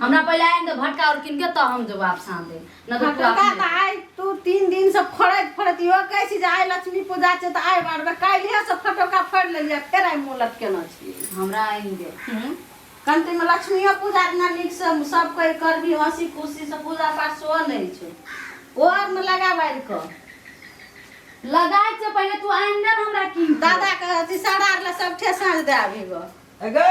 हमरा पहिले आनि दे भटका और किन के त हम जो वापस आन दे न तो तू भटका अपने- त आइ तू तीन दिन से फोड़ैत फोड़ैत इहो कहै छी जे आइ लक्ष्मी पूजा छै तऽ आइ बारबै काल्हिए से फटोका फोड़ि लेलियै फेर आइ मुँह लटकेने छी हमरा आनि दे हम्म। कंठीमे लक्ष्मीओ पूजा दिना नीकसँ सब कोइ करबी हँसी खुशीसँ पूजा पाठ सेहो नहि होइ छै ओ आरमे लगा बारि कऽ लगा के पहिले तू आनि दे न हमरा किन के। दादाके अथी सरार लए सब ठेसाँज दए अभी गऽ अगे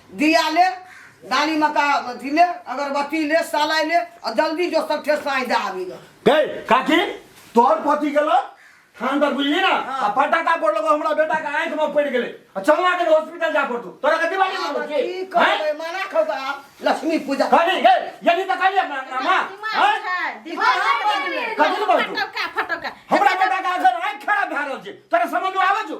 दिया ले दानी मका अथी ले अगरबत्ती ले सालाई ले और जल्दी जो सब ठेस साई दे आबी ग गई काकी तोहर पति गेलो थान पर बुझली ना आ फटाका पड़लो हमरा बेटा के आंख में पड़ गेले आ चलना के हॉस्पिटल जा पड़तो तोरा के दिवाली में होती की हैं कहबे मना खो का लक्ष्मी पूजा कहली गई यही तो कहली अपना मामा हैं कथी ले बोलतो फटका हमरा बेटा के आंख आंख खराब भए रहल छै तोरा समझ में आवे छौ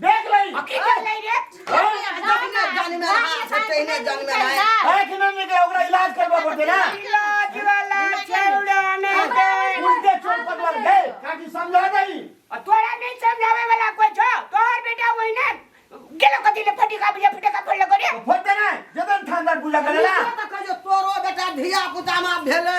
देख लई आ की कर कर ले रे जानी में हां से तेने जानी में हां है कि नहीं निकले ओकरा इलाज करवा पड़ते ना इलाज वाला छेड़ाने दे उनके चोट पकड़ ले ताकि समझा जाई आ तोरा नहीं समझावे वाला कोई छो तोहर बेटा वही ने गेलो कदी ले फटी का बुझा फटे का फड़ लगो रे फोड़ देना जदन थांदर पूजा करेला तो कहियो तोरो बेटा धिया पुता में भेले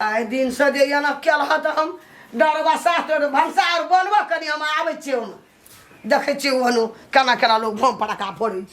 आइ दिनसँ जे एना केलह तऽ हम डरबा साथ भनसा आर बनबऽ कनि हम आबै छियै ओहिमे देखै छियै ओहन केना केना लोक भोम पड़ाका फोड़ै छै